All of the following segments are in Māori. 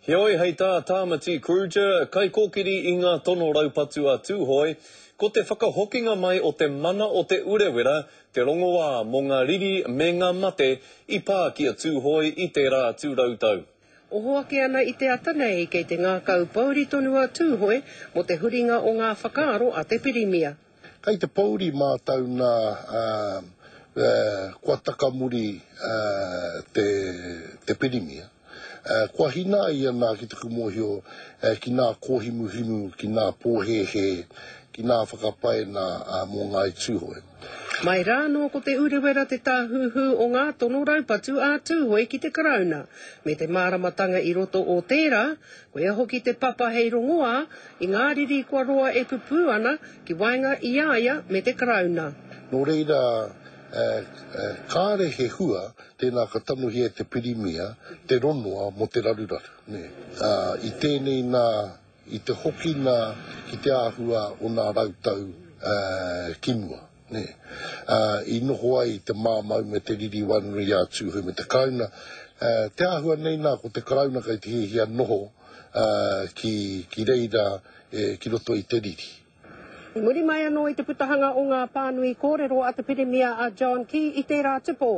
Heoi, hei tā Tāmati Kruger, kaikōkiri i ngā tono raupatu a Tūhoe, ko te whakahokinga mai o te mana o Te Urewera te rongoā mō ngā riri me ngā mate i pā ki a Tūhoe i tērā atu rautau. Oho ake ana i te ata nei, kei te ngākau pouri tonu a Tūhoe mō te huringa o ngā whakaaro a te pirimia. Kai te pouri mātou nā kua takamuri te Pirimia, kua hinā ia nā ki taku mōhio ki nā kōhimuhimu, ki nā pōhēhē, ki nā whakapae nā mō Ngāi Tūhoe. Mai rā anō ko Te Urewera te tāhuhu o ngā tono raupatu a Tūhoe ki te Karauna, me te māramatanga i roto o tērā, Koia hoki te papa hei rongoā i ngā riri kua roa e pupū ana ki waenga i a ia me te Karauna. Nō reira, kāre he hua tēnā ka tangohia e te Pirimia te rongoa mō te raruraru. I tēnei nā, i te hokina ki te āhua o nā rautau ki mua. Nē. Ā, i noho ai te māmau me te riri wānuru i a Tūhoe me te Karauna. Ā, te āhua nei nā, ko te Karauna kei te hiahia noho, ā, ki, ki reira, e, ki roto i te riri. I muri mai anō i te putahanga o ngā pānui kōrero a te Pirimia a John Key i tērā tupō,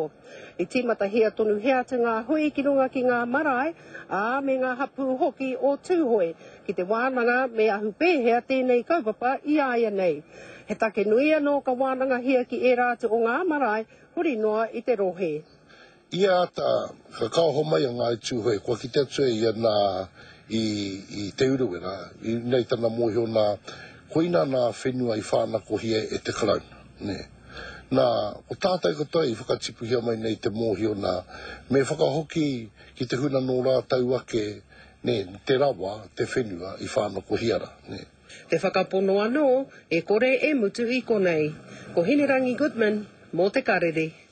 i tīmatahia tonuhia atu ngā hui ki runga ki ngā marae, ā, me ngā hapū hoki o Tūhoe, ki te wānanga me ahu pēhea tēnei kaupapa i a ia nei. He take nui anō ka wānangahia ki ērā atu o ngā marae huri noa i te rohe. Ia ata, ka kaoho mai a Ngāi Tūhoe, kua kite atu e ia nā, i, i Te Urewera, ina i tana mōhio nā, koina nā whenua i whānakohia e te Karauna, nē. Nā, ko tātau katoa i whakatipuhia mai nei te mōhio nā, me whakahoki ki te huna nō rātau ake Nē, te rawa, te whenua i whānokohia ra, nē. Te whakapono anō, e kore e mutu i konei. Ko Hinerangi Goodman, mō Te Karere.